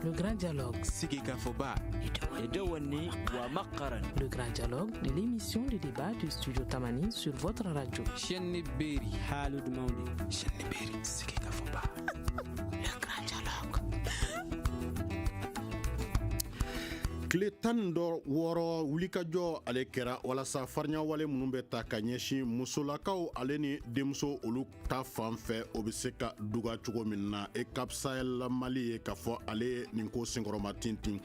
Le grand dialogue. Sigikafɔba. Edewani wa Makaran. Le grand dialogue de l'émission de débat du studio Tamani sur votre radio. Chenni Beri. Halud Mauli. Chenni Beri. Sigikafɔba. Le grand dialogue. tile tan ni wɔɔrɔ wulikajɔ ale kɛra walasa farinya wale minnu bɛ ta ka ɲɛsin musolakaw ale ni denmuso olu ta fan fɛ o bɛ se ka duga cogo min na EUCAP Sahel mali ye k'a fɔ ale ye nin ko senkɔrɔma tintin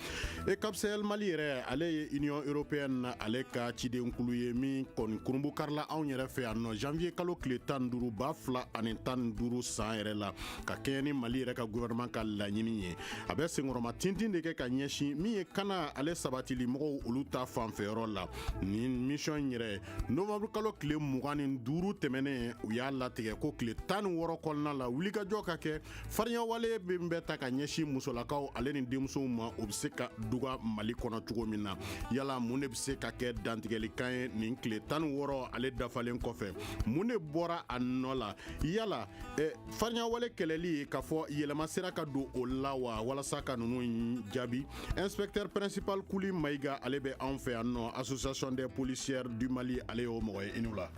EUCAP Sahel mali yɛrɛ ale ye union européenne na ale ka cidenkulu ye min kɔni kurunbonkarila anw yɛrɛ fɛ yan nɔ janvier kalo tile tan duuru ba fila ani tan duuru san yɛrɛ la ka kɛɲɛ ni mali yɛrɛ ka gouvernement ka laɲini ye a bɛ senkɔrɔma tintin de kɛ ka ɲɛsin min ye kana ale sabatili mɔgɔw olu ta fanfɛyɔrɔ la nin mission yɛrɛ nowanburukalo tile mugan ni duuru tɛmɛnen u y'a latigɛ ko tile tan ni wɔɔrɔ kɔnɔna la wulikajɔ ka kɛ farinyawale min bɛ ta ka ɲɛsin musolakaw ale ni denmusow ma o bɛ se ka duga mali kɔnɔ cogo min na yala mun de bɛ se ka kɛ dantigɛlikan ye nin tile tan ni wɔɔrɔ ale dafalen kɔfɛ mun de bɔra a nɔ la yala eh, farinyawale kɛlɛli k'a fɔ yɛlɛma sera ka don o la wa walasa ka ninnu jaabi inspecteur principal kuli mayiga ale bɛ anw fɛ yan nɔ association des policières du mali ale y'o mɔgɔ ye i ni wula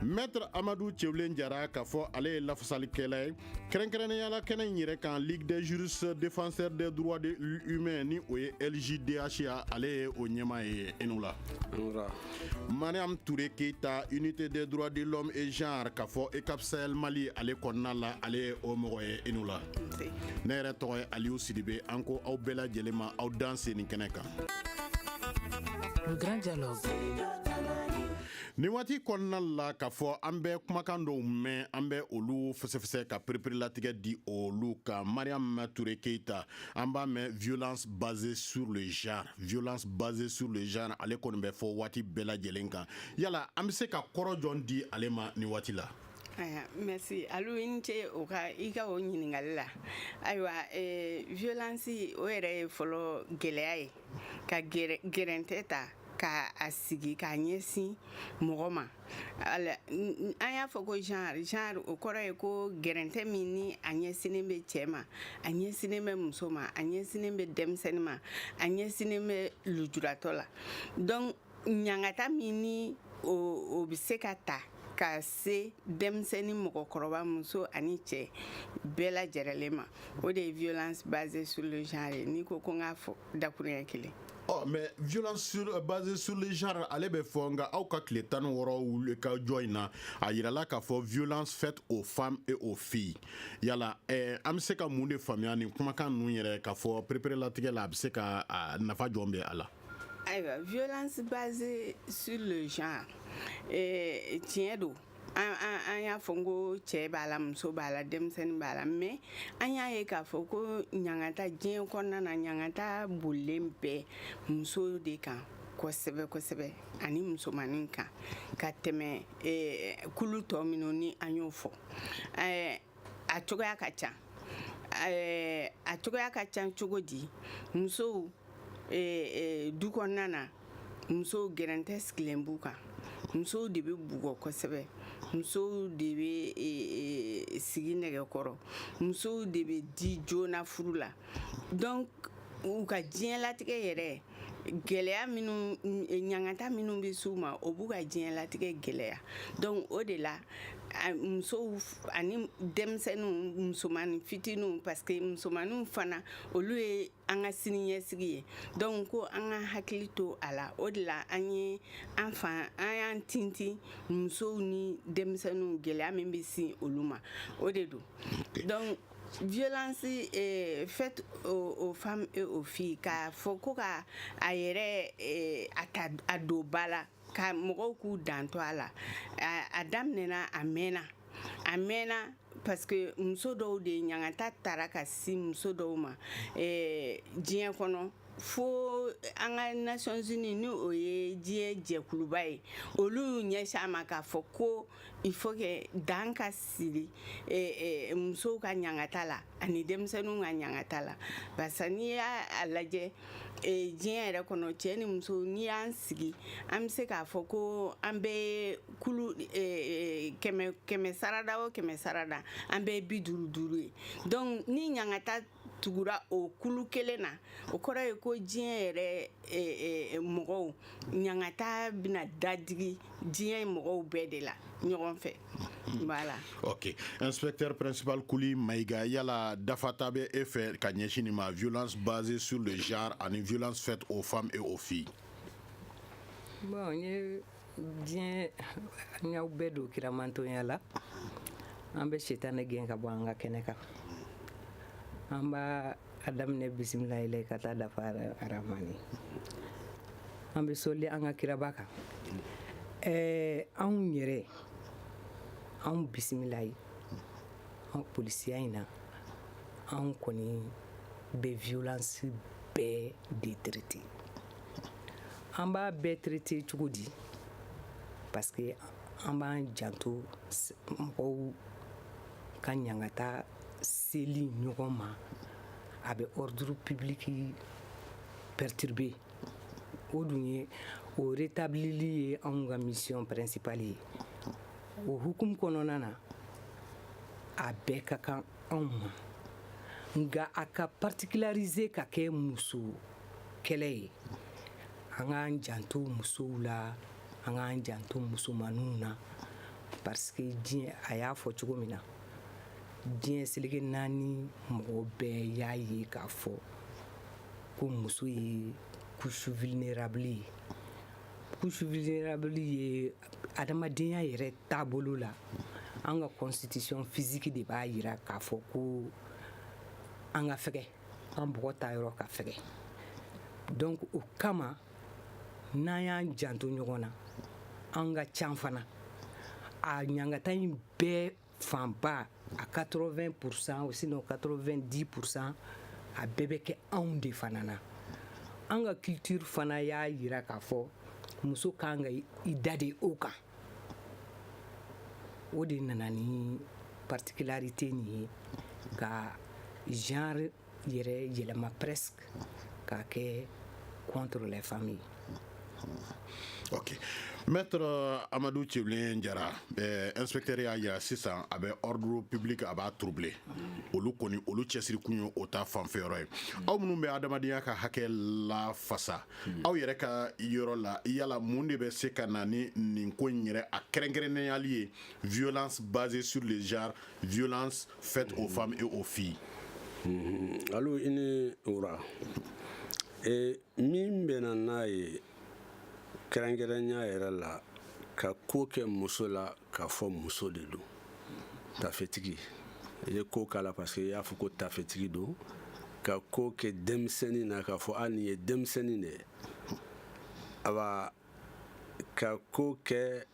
maître amadu cɛwulen jara k'a fɔ ale ye lafasalikɛla ye kɛrɛnkɛrɛnnenya la kɛnɛ in yɛrɛ kan ligue des juristes défenseurs des droits humains ni o ye ljdh ale ye o ɲɛmaa ye i ni wula Mariam Toure Keita, unité des droits de l'homme et genre, k'a fɔ EUCAP Sahel Mali ale kɔnɔna la ale ye o mɔgɔ ye i ni wula. Ne yɛrɛ tɔgɔ ye Aliou Sidibe an ko aw bɛɛ lajɛlen ma aw danse nin kɛnɛ kan. Le grand dialogue. nin waati kɔnɔna la k'a fɔ an bɛ kumakan dɔw mɛn an bɛ olu fɛsɛfɛsɛ ka pereperelatigɛ di olu kan mariam ture keita an b'a mɛn violence basée sur le genre violence basée sur le genre ale kɔni bɛ fɔ waati bɛɛ lajɛlen kan yala an bɛ se ka kɔrɔ jɔn di ale ma nin waati la eh, merci alu i ni ce o ka i ka o ɲininkali la ayiwa eh, violence o yɛrɛ ye fɔlɔ gɛlɛya ye ka gɛrɛntɛ ta ka a sigi k'a ɲɛsin mɔgɔ ma an y'a fɔ ko genre genre o kɔrɔ ye ko gɛrɛntɛ min ni a ɲɛsinnen bɛ cɛ ma a ɲɛsinnen bɛ muso ma a ɲɛsinnen bɛ denmisɛnnin ma a ɲɛsinnen bɛ lujuratɔ la donc ɲangata min ni o bɛ se ka ta ka se denmisɛnnin mɔgɔkɔrɔba muso ani cɛ bɛɛ lajɛrɛlen ma o de ye violence basée sur le genre ye n'i ko ko n k'a fɔ dakuruɲɛ kelen ɔ mais violence sur, euh, basée sur le genre ale bɛ fɔ nka aw ka tile tan ni wɔɔrɔ wuli ka jɔ in na a yirala k'a fɔ violence faite aux femmes et aux filles yala eh, an bɛ se ka mun de faamuya nin kumakan ninnu yɛrɛ k'a fɔ pereperelatigɛ la a bɛ se ka nafa jɔn bɛ a la ayiwa violence basée sur le genre eh, tiɲɛ don an an an y'a fɔ n ko cɛ b'a la muso b'a la denmisɛnnin b'a la mais an y'a ye k'a fɔ ko ɲangata diɲɛ kɔnɔna na ɲangata bolilen bɛ muso de kan kosɛbɛ kosɛbɛ ani musomanin kan ka tɛmɛ eh, kulu tɔ minnu ni an y'o fɔ eh, a cogoya ka ca eh, a cogoya ka ca cogo di musow eh, eh, du kɔnɔna na musow gɛrɛntɛ sigilen b'u kan musow de bɛ bugɔ kosɛbɛ musow de bɛ e, e, sigi nɛgɛkɔrɔ musow de bɛ di joona furu la donc u ka diɲɛlatigɛ yɛrɛ gɛlɛya minnu ɲangata minnu bɛ s'u ma o b'u ka diɲɛlatigɛ gɛlɛya donc o de la musow ani denmisɛnninw musomanin fitininw parce que musomaninw fana olu ye an ka siniɲɛsigi ye donc ko an ka hakili to a la o de la an ye an fan an y'an tintin musow ni denmisɛnninw gɛlɛya min bɛ sin olu ma o de don donc violence eh, faite aux, aux, femmes et aux filles k'a fɔ ko ka a yɛrɛ eh, a ta a don ba la ka mɔgɔw k'u janto a la a daminɛna a mɛnna a mɛnna parce que muso dɔw de ɲangata taara ka se muso dɔw ma eh, diɲɛ kɔnɔ fo an ka nations unies ni o ye diɲɛ jɛkuluba ye olu y'u ɲɛsin a ma k'a fɔ ko il faut que dan ka sigi musow ka ɲangata la ani denmisɛnninw ka ɲangata la barisa n'i y'a lajɛ diɲɛ yɛrɛ kɔnɔ cɛ ni muso n'i y'an sigi an bɛ se k'a fɔ ko an bɛ kulu kɛmɛ sarada o kɛmɛ sarada an bɛ bi duuru duuru ye donc ni ɲangata tugura o kulu kelen na o kɔrɔ ye ko diɲɛ yɛrɛ e, e, e, mɔgɔw ɲangata bɛna dadigi diɲɛ mɔgɔw bɛɛ de la ɲɔgɔn fɛ voilà ok inspecteur principal kuli mayiga yala dafata bɛ e fɛ ka ɲɛsin nin ma violence basée sur le genre ani violence faite aux femmes et aux filles bon n ye diɲɛ an y'aw bɛɛ don kiramantonya la an bɛ sitanɛ gɛn ka bɔ an ka kɛnɛ kan an b'a a daminɛ bisimilahi la ka taa dafa aramani an bɛ sɔli an ka kiraba kan ɛɛ anw yɛrɛ anw bisimilahi an polisiya in na anw kɔni bɛ violence bɛɛ de traité an b'a bɛɛ traité cogo di parce que an b'an janto mɔgɔw ka ɲangata seli ɲɔgɔn ma a bɛ ordre public perturber o dun ye o rétablili ye anw ka mission principale ye o hukumu kɔnɔna na a bɛɛ ka kan anw ma nka a ka particulariser ka kɛ muso kɛlɛ ye an k'an janto musow la an k'an janto musomaninw na parce que diɲɛ a y'a fɔ cogo min na diɲɛ seleke naani mɔgɔ bɛɛ y'a ye k'a fɔ ko muso ye couche vulnérable ye couche vulnérable ye adamadenya yɛrɛ taabolo la an ka constitution physique de b'a yira k'a fɔ ko an ka fɛgɛ an bɔgɔ ta yɔrɔ ka fɛgɛ donc o kama n'an y'an janto ɲɔgɔn na an ka can fana a ɲangata in bɛɛ fanba a 80 pourcent ou sinon 90 pourcent a bɛɛ bɛ kɛ anw de fana na an ka culture fana y'a yira k'a fɔ muso kan ka i da de o kan o de nana ni particularité nin ye ka genre yɛrɛ yɛlɛma presque k'a kɛ contre les femmes ye ok maître amadu cɛbilen jara inspecteur y'a yira sisan a bɛ ordre public a b'a troublé olu kɔni olu cɛsiri kun ye o ta fanfɛyɔrɔ ye aw minnu bɛ adamadenya ka hakɛ lafasa Hmm. aw yɛrɛ ka yɔrɔ la yala mun de bɛ se ka na ni nin ko in yɛrɛ a kɛrɛnkɛrɛnneyali ye violence basée sur le genre violence faite aux femmes et aux filles hmm. alo i ni wura e, min bɛna n'a ye kɛrɛnkɛrɛnya yɛrɛ la ka ko kɛ muso la k'a fɔ muso de don tafetigi i ye ko k'a la parce que i y'a fɔ ko tafetigi don ka ko kɛ denmisɛnnin na k'a fɔ a nin ye denmisɛnnin de ye awa ka ko kɛ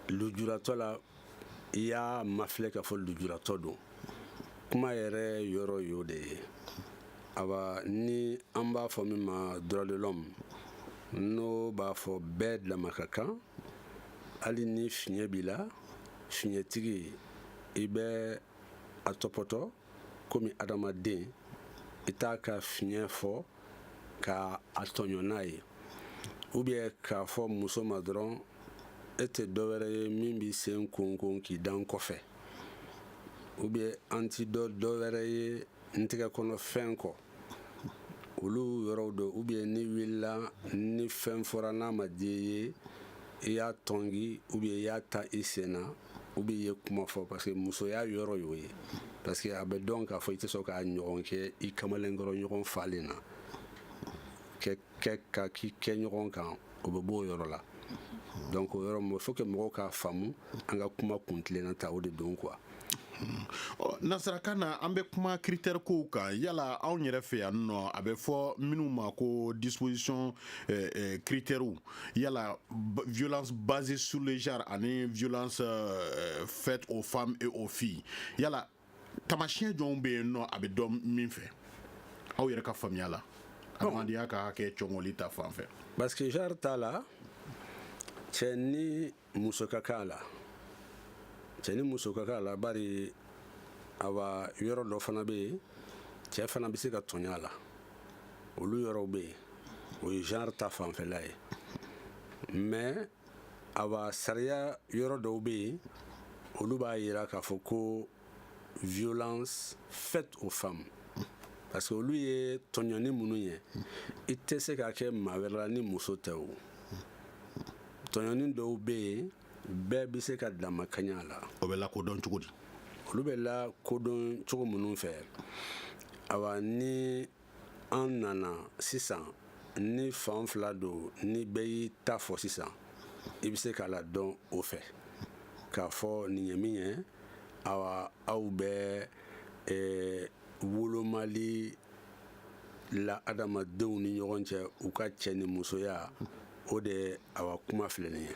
lujuratɔ la i y'a mafilɛ k'a fɔ lujuratɔ don kuma yɛrɛ yɔrɔ y'o de ye awa ni an b'a fɔ min ma droit de l'homme n'o b'a fɔ bɛɛ dama ka kan hali ni fiɲɛ b'i la fiɲɛtigi i bɛ a tɔpɔtɔ komi adamaden i t'a ka fiɲɛ fɔ ka a tɔɲɔ n'a ye ou bien k'a fɔ muso ma dɔrɔn e tɛ dɔwɛrɛ ye min b'i sen konkon k'i da n kɔfɛ ou bien an ti dɔ dɔwɛrɛ ye n tɛgɛ kɔnɔ fɛn kɔ olu yɔrɔw don ou bien n'i wulila ni fɛn fɔra n'a ma diya i ye i y'a tɔngi ou bien i y'a tan i sen na ou bien i ye kuma fɔ parce que musoya yɔrɔ y'o ye parce que a bɛ dɔn k'a fɔ i tɛ sɔn k'a ɲɔgɔn kɛ i kamalenkɔrɔ ɲɔgɔn falen na kɛ ka k'i kɛ ɲɔgɔn kan o bɛ b'o yɔrɔ la donc o yɔrɔ il faut que mɔgɔw k'a faamu an ka kuma kuntilenna ta o de don quoi nasarakan na an bɛ kuma critère kow kan yala anw yɛrɛ fɛ yan nɔ a bɛ fɔ minnu ma ko disposition eh, eh, critère yala violence basée sur le genre ani violence eh, faite aux femmes et aux filles yala taamasiyɛn jɔnw bɛ yen nɔ a bɛ dɔn min fɛ aw yɛrɛ ka faamuya la adamadenya ka hakɛ cɔngɔli ta fan fɛ parce que genre ta la cɛ ni muso ka kan a la cɛ ni muso ka kan a la bari awa yɔrɔ dɔ fana bɛ yen cɛ fana bɛ se ka tɔɲɔ a la olu yɔrɔw bɛ yen o ye genre ta fanfɛla ye mais awa sariya yɔrɔ dɔw bɛ yen olu b'a yira k'a fɔ ko violence faite aux femmes parce que olu ye tɔɲɔni minnu ye i tɛ se k'a kɛ maa wɛrɛ la ni muso tɛ o tɔɲɔni dɔw bɛ yen bɛɛ bɛ se ka damakanya la o bɛ lakodɔn cogo di olu bɛ lakodɔn cogo minnu fɛ awa ni an nana sisan ni fan fila don ni bɛɛ y'i ta fɔ sisan i bɛ se k'a ladɔn o fɛ k'a fɔ nin ye min ye awa aw bɛ eh, wolomali la adamadenw ni ɲɔgɔn cɛ u ka cɛ ni musoya o de awa kuma filɛ nin ye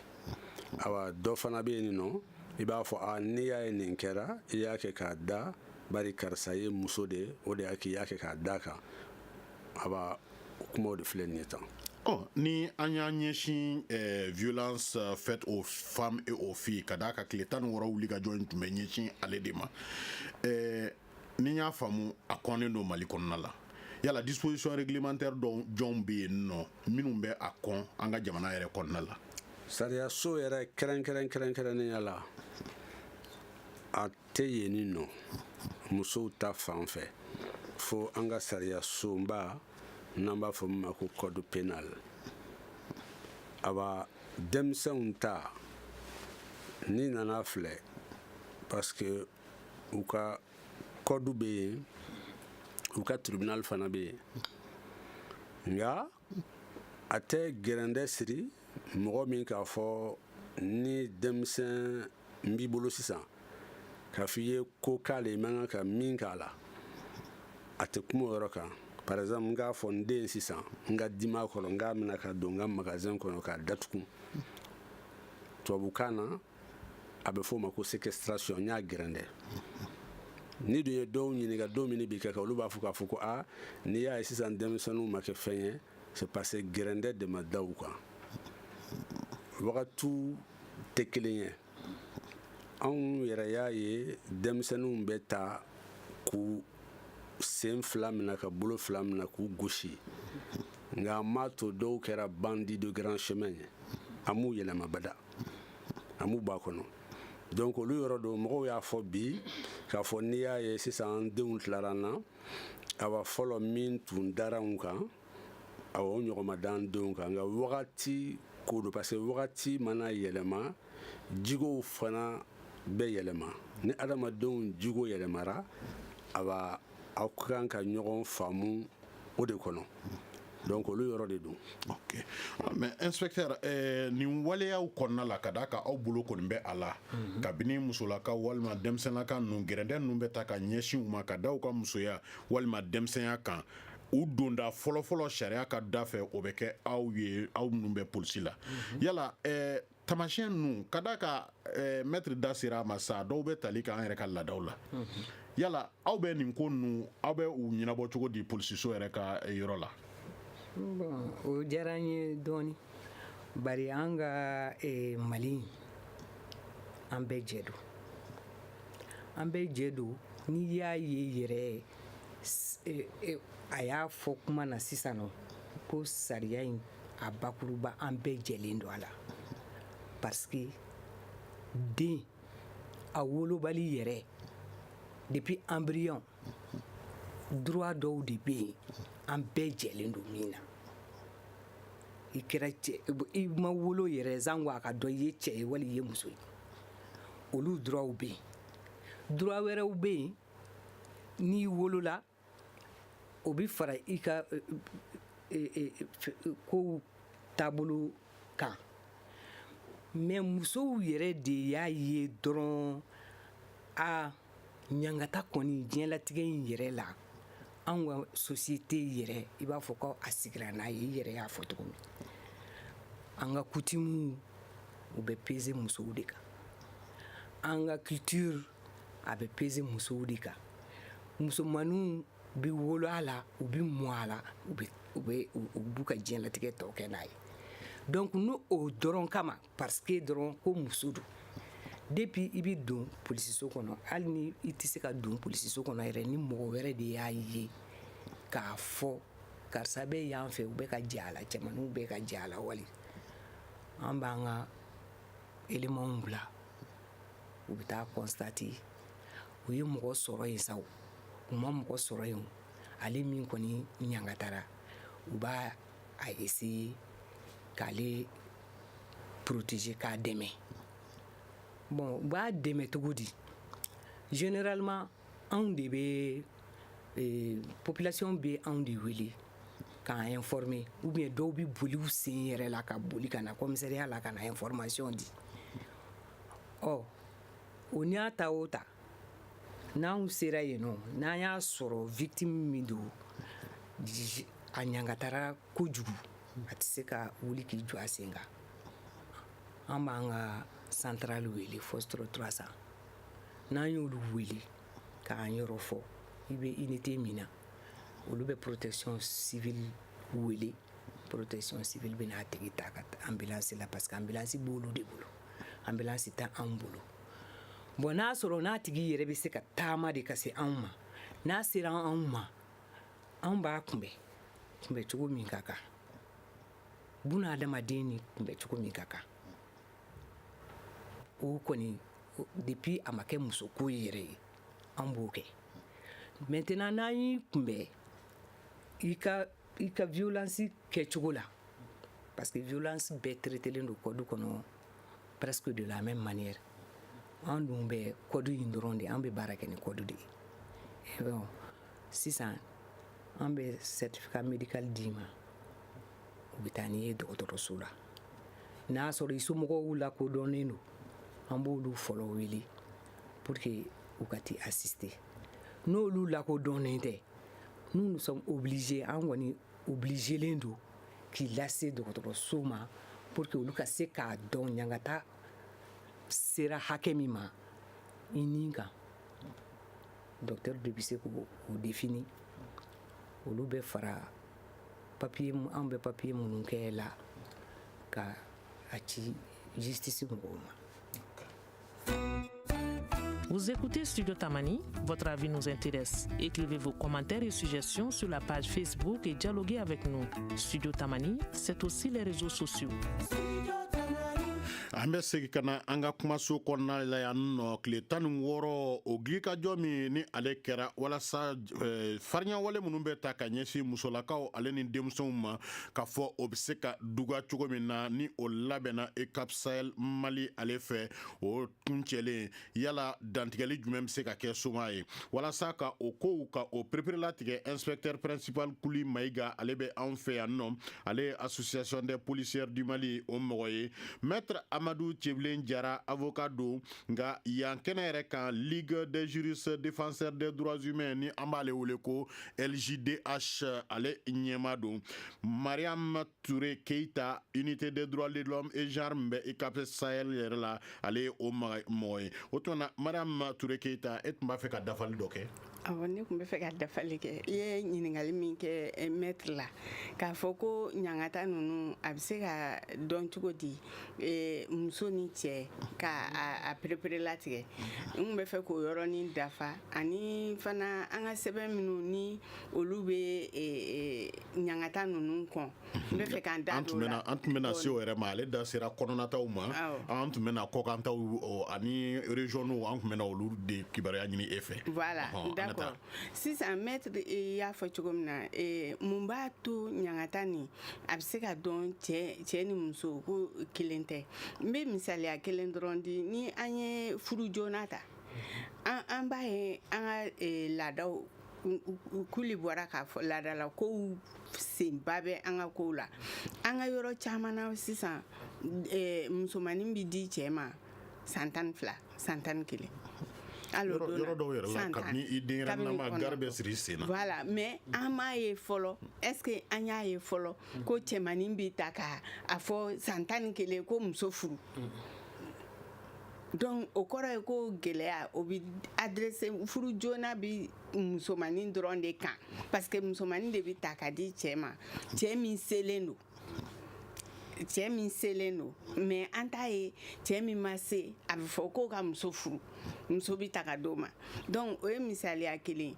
awa dɔ fana bɛ yen nin nɔ i b'a fɔ a n'i y'a ye nin kɛra i y'a kɛ k'a da bari karisa ye muso de ye o de y'a k'i y'a kɛ k'a da kan awa kumaw de filɛ nin ye tan Oh, ni an y'a ɲɛsin eh, violence euh, faite aux femmes et aux filles ka d'a kan tile tan ni wɔɔrɔ wuli ka jɔ in tun bɛ ɲɛsin ale de ma eh, ni n y'a faamu a kɔnnen don mali kɔnɔna la yala disposition réglementaire dɔw jɔnw bɛ yen nɔ minnu bɛ a kɔn an ka jamana yɛrɛ kɔnɔna la sariyaso yɛrɛ kɛrɛnkɛrɛn kɛrɛnkɛrɛnnenya la a tɛ yenni nɔ musow ta fan fɛ fo an ka sariyasunba n'an b'a fɔ min ma ko code pénal awa denmisɛnw ta n'i nana a filɛ parce que u ka code bɛ yen u ka tribunal fana bɛ yen nka a tɛ gɛrɛndɛ siri mɔgɔ min k'a fɔ ni denmisɛnnin b'i bolo sisan k'a fɔ i ye ko k'a la i man kan ka min k'a la a tɛ kuma o yɔrɔ kan par exemple n k'a fɔ n den sisan n ka dimi a kɔrɔ n k'a mina k'a don n ka magasin kɔnɔ k'a datugu tubabukan na a bɛ f'o ma ko séquestration n y'a gɛrɛndɛ n'i dun ye dɔw ɲininka don min b'i kɛ ka olu b'a fɔ k'a fɔ ko a n'i y'a ye sisan denmisɛnninw ma kɛ fɛn ye c'est parce que gɛrɛndɛ de ma da u kan wagatiw tɛ kelen ye anw yɛrɛ y'a ye denmisɛnninw bɛ ta k'u sen fila minɛ k'u bolo fila minɛ k'u gosi nka a m'a to dɔw kɛra bandit de grand chemin ye a m'u yɛlɛma bada a m'u b'a kɔnɔ donc olu yɔrɔ don mɔgɔw y'a fɔ bi k'a fɔ n'i y'a ye sisan an denw tilara an na awa fɔlɔ min tun dara anw kan awa o ɲɔgɔn ma da an denw kan nka wagati ko don parce que wagati mana yɛlɛma jigow fana bɛ yɛlɛma ni adamadenw jigo yɛlɛmara awa aw ka kan ka ɲɔgɔn faamu o de kɔnɔ donc olu yɔrɔ de don ok ah, mais inspecteur eh, nin waleyaw kɔnɔna la ka d'a kan aw bolo kɔni bɛ a la mhm. kabini musolaka walima denmisɛnninlaka ninnu gɛrɛndɛ ninnu bɛ ta ka ɲɛsin u ma ka da u ka musoya walima denmisɛnya kan u donda fɔlɔfɔlɔ sariya ka da fɛ o bɛ kɛ aw ye aw minnu bɛ polisi la mhm. yala eh, Tamasiɲɛ ninnu ka d'a kan maître da sera a ma sa dɔw bɛ tali kɛ an yɛrɛ ka laadaw la yala aw bɛ nin ko ninnu aw bɛ u ɲɛnabɔ cogo di polisiso yɛrɛ ka yɔrɔ la o diyara an ye dɔɔnin bari an ka mali an bɛɛ jɛ don an bɛɛ jɛ don n'i y'a ye yɛrɛ a y'a fɔ kuma na sisan ko sariya in a bakuruba an bɛɛ jɛlen don a la parce que den a wolobali yɛrɛ depuis embryon droit dɔw de bɛ yen an bɛɛ jɛlen don min na i kɛra cɛ i ma wolo yɛrɛ sanko a ka dɔn i ye cɛ ye wali i ye muso ye olu droitw bɛ yen droit wɛrɛw bɛ yen n'i wolola o bɛ fara i ka kow taabolo kan mais musow yɛrɛ de y'a ye dɔrɔn a ɲangata kɔni diɲɛlatigɛ in yɛrɛ la an ka société yɛrɛ i b'a fɔ ko a sigira n'a ye i yɛrɛ y'a fɔ cogo min an ka coutume u bɛ peser musow de kan an ka culture a bɛ peser musow de kan musomanninw bɛ wolo a la u bɛ mɔ a la b'u ka diɲɛlatigɛ tɔ kɛ n'a ye donc n'o dɔrɔn kama parce que dɔrɔn ko muso don depuis i bɛ don polisiso kɔnɔ hali ni i tɛ se ka don polisiso kɔnɔ yɛrɛ ni mɔgɔ wɛrɛ de y'a ye k'a fɔ karisa bɛ yan fɛ u bɛ ka jɛ a la cɛmanw bɛ ka jɛ a la wali an b'an ka élémentw bila u bɛ taa constater u ye mɔgɔ sɔrɔ yen sa u ma mɔgɔ sɔrɔ yen ale min kɔni ɲangatara u b'a a essayer k'ale protéger k'a dɛmɛ bon u b'a dɛmɛ cogo di généralement anw de bɛ e, population bɛ anw de wele k'an informer ou bien dɔw bɛ boli u sen yɛrɛ la ka boli ka na commissariat la ka na information di ɔ o n'a ta o ta n'an sera yen nɔ n'an y'a sɔrɔ victime min don a ɲangatara kojugu a tɛ se ka wuli k'i jɔ a sen kan an b'an ka centrale wele Foxtrot trois cents n'an y'olu wele k'an yɔrɔ fɔ i bɛ unité min na olu bɛ protection civile wele protection civile bɛna a tigi ta ka ambulance la parce que ambulance b'olu de bolo ambulance tɛ anw bolo bon n'a sɔrɔ n'a tigi yɛrɛ bɛ se ka taama de ka se anw ma n'a sera anw ma anw b'a kunbɛn kunbɛn cogo min ka kan bunadamaden ni kunbɛn cogo min ka kan o kɔni depuis a ma kɛ musoko yɛrɛ ye an b'o kɛ maintenant n'an y'i kunbɛn i ka i ka violence kɛcogo la parce que violence bɛɛ traitelen don code kɔnɔ presque de la même manière an dun bɛ code in dɔrɔn de an bɛ baara kɛ ni code de ye bon sisan an bɛ certificat médical d'i ma u bɛ taa n'i ye dɔgɔtɔrɔso la n'a sɔrɔ i somɔgɔw lakodɔnnen don an b'olu fɔlɔ wele pour que u ka t'i assister n'olu lakodɔnnen tɛ nous sommes obligés an kɔni obligelen don k'i lase dɔgɔtɔrɔso ma pour que olu ka se k'a dɔn ɲangata sera hakɛ min ma i ni kan docteur de bɛ se k'o définir olu bɛ fara papiye an bɛ papiye minnu kɛ la ka a ci justice mɔgɔw ma Vous écoutez Studio Tamani, votre avis nous intéresse. Écrivez vos commentaires et suggestions sur la page Facebook et dialoguez avec nous. Studio Tamani, c'est aussi les réseaux sociaux. an bɛ segin ka na an ka kumaso kɔnɔna la yan nɔ tile tan ni wɔɔrɔ o gilikajɔ min ni ale kɛra walasa eh, farinyawale minnu bɛ ta ka ɲɛsin musolakaw ale ni denmisɛnw ma k'a fɔ o bɛ se ka duga cogo min na ni o labɛnna EUCAP sahel mali ale fɛ o kuncɛlen yala dantigɛli jumɛn bɛ se ka kɛ soma ye walasa ka o kow ka o pereperelatigɛ inspecteur principal kuli mayiga ale bɛ anw fɛ yan nɔ ale ye association des policières du mali o mɔgɔ ye maître amadu cɛbilen jara avocat don nka yan kɛnɛ yɛrɛ kan ligue des juristes défenseurs des droits humains ni an b'ale wele ko LJDH ale ɲɛmaa don mariam Ture keyita unité des droits de l'homme et genre bɛ EUCAP Sahel yɛrɛ la ale ye o mɔgɔ ye o tuma madame ture keyita e tun b'a fɛ ka dafali dɔ kɛ ne tun bɛ fɛ ka dafali kɛ i ye ɲininkali min kɛ maître la k'a fɔ ko ɲangata ninnu a bɛ se ka dɔn cogo di muso ni cɛ k'a pereperelatigɛ n tun bɛ fɛ k'o yɔrɔnin dafa ani fana an ka sɛbɛn minnu ni olu bɛ ɲangata ninnu kɔn n bɛ fɛ k'an da don o la an tun bɛna se o yɛrɛ ma ale da sera kɔnɔnataw ma an tun bɛna kɔkantaw ani régionaux an tun bɛna olu de kibaruya ɲini e fɛ d'accord sisan maître y'a fɔ cogo min na mun b'a to ɲangata nin a bɛ se ka dɔn cɛ ni muso ko kelen tɛ n bɛ misaliya kelen dɔrɔn di ni an ye furu joona ta an b'a ye an ka laadaw kuli bɔra k'a fɔ laadala kow senba bɛ an ka kow la an ka yɔrɔ caman na sisan eh, musomanin bɛ di cɛ ma san tan ni fila san tan ni kelen yɔrɔ dɔw yɛrɛ la kabini i denyɛrɛnama gari bɛ siri sen na voilà mais an m'a ye fɔlɔ est ce que an y'a ye fɔlɔ ko cɛmanin bɛ ta ka a fɔ san tan ni kelen ko muso furu Donc o kɔrɔ ye ko gɛlɛya o bɛ adressé furu joona bɛ musomanin dɔrɔn de kan parce que musomanin de bɛ ta ka di cɛ ma cɛ min selen don cɛ min selen don mais an t'a ye cɛ min ma se a bɛ fɔ ko ka muso furu muso bɛ ta ka d'o ma donc o ye misaliya kelen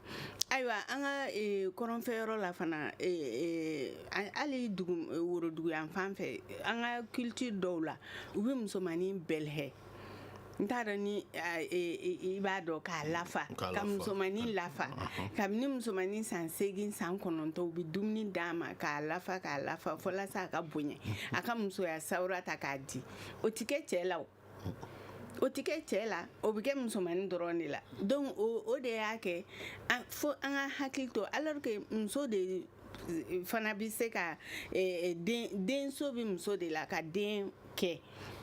ayiwa an ka e, kɔrɔnfɛ yɔrɔ la fana e, e, hali woroduguyanfan fɛ an ka culture dɔw la u bɛ musomannin bɛlɛhɛ n t'a dɔn ni i b'a dɔn k'a lafa ka musomannin lafa kabini musomannin san seegin san kɔnɔntɔn u bɛ dumuni d'a ma k'a lafa k'a lafa walasa a ka bonya a ka musoya sawura ta k'a di o tɛ kɛ cɛ la o tɛ kɛ cɛ la o bɛ kɛ musomannin dɔrɔn de la donc o de y'a kɛ fo an ka hakili to a la muso de fana bɛ se ka eh, eh, denso bɛ muso de la ka den kɛ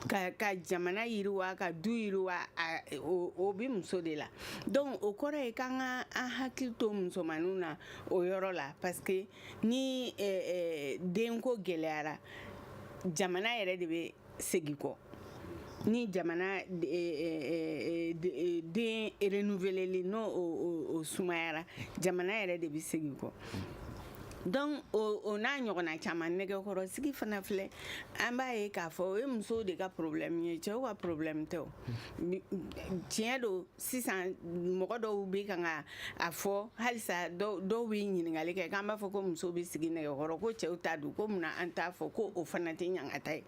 ka, ka jamana yiriwa ka du yiriwa a, o, o bɛ muso de la donc o kɔrɔ ye k'an ka an hakili to musomaninw na o yɔrɔ la parce que ni eh, eh, denko gɛlɛyara jamana yɛrɛ de bɛ segin kɔ ni jamana den eh, eh, eh, renouveleli n'o o sumayara jamana yɛrɛ de bɛ segin kɔ donc o n'a ɲɔgɔnna caman nɛgɛkɔrɔsigi fana filɛ an b'a ye k'a fɔ o ye musow de ka problème ye cɛw ka problème tɛ o tiɲɛ don sisan mɔgɔ dɔw bɛ kan ka a fɔ halisa dɔw bɛ ɲininkali kɛ k'an b'a fɔ ko musow bɛ sigi nɛgɛ kɔrɔ ko cɛw ta dun ko munna an t'a fɔ ko o fana tɛ ɲangata ye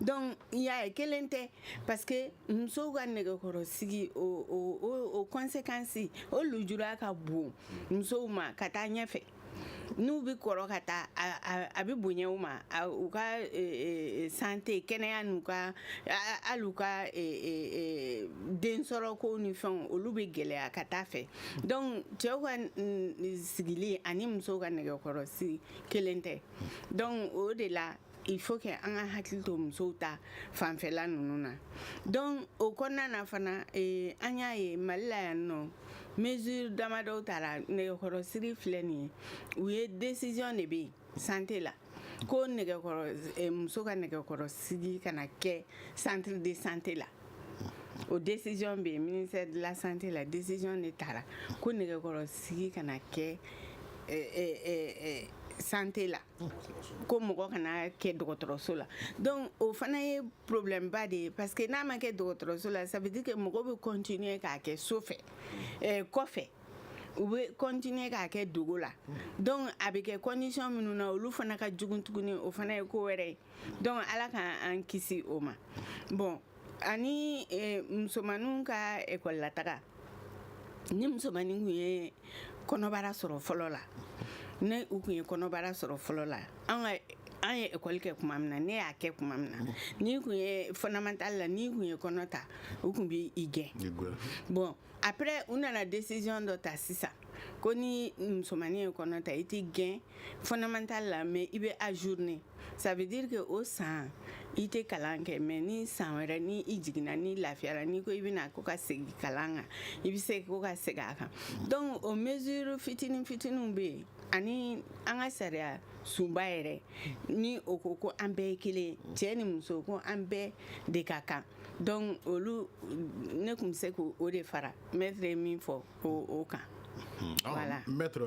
donc y'a ye kelen tɛ parce que musow ka nɛgɛkɔrɔsigi o o o conséquence o lujura ka bon musow ma ka taa ɲɛfɛ n'u bɛ kɔrɔ ka taa a bɛ bonya u ma u ka santé kɛnɛya n'u ka hali u ka densɔrɔkow ni fɛnw olu bɛ gɛlɛya ka taa fɛ donc cɛw ka sigili ani musow ka nɛgɛkɔrɔsigi kelen tɛ donc o de la il faut que an ka hakili to musow ta fanfɛla ninnu na donc o kɔnɔna na fana eh, an y'a ye mali la yan nɔ mesure damadɔw tara nɛgɛkɔrɔsigi filɛ nin ye u ye décision de bɛ yen santé la ko nɛgɛkɔrɔ eh, muso ka nɛgɛkɔrɔsigi kana kɛ centre de santé la o décision bɛ yen ministère de la santé la décision de tara ko nɛgɛkɔrɔsigi kana kɛ eh, eh, eh, eh, santé la Ko mɔgɔ kana kɛ dɔgɔtɔrɔso la donc o fana ye problème ba de ye parce que n'a ma kɛ dɔgɔtɔrɔso la ça veut dire que mɔgɔ bɛ continuer k'a kɛ so fɛ ɛɛ kɔfɛ u bɛ continuer k'a kɛ dogo la donc a bɛ kɛ condition minnu na olu fana ka jugu tuguni o fana ye ko wɛrɛ ye donc Ala ka an kisi o ma bon ani e, musomaninw ka école la taga ni musomanin kun ye kɔnɔbara sɔrɔ fɔlɔ la ne u kun ye kɔnɔbara sɔrɔ fɔlɔ la an ka an ye école kɛ kuma min na ne y'a kɛ kuma min na n'i kun ye fondamental la n'i kun ye kɔnɔ ta u kun bɛ i gɛn bon après u nana décision dɔ ta sisan ko ni musomannin ye kɔnɔ ta i tɛ gɛn fondamental la mais i bɛ ajourner ça veut dire que o san i tɛ kalan kɛ mais ni san wɛrɛ ni i jiginna n'i lafiyara n'i ko i bɛna ko ka segin kalan kan i bɛ se ko ka segin a kan donc o mesure fitinin fitininw bɛ yen ani an ka sariyasunba yɛrɛ ni o ko ko an bɛɛ ye kelen cɛ ni muso ko an bɛɛ de ka kan donc olu ne kun bɛ se k' o de fara maître ye min fɔ o kan Hmm. Ah, eh, maître,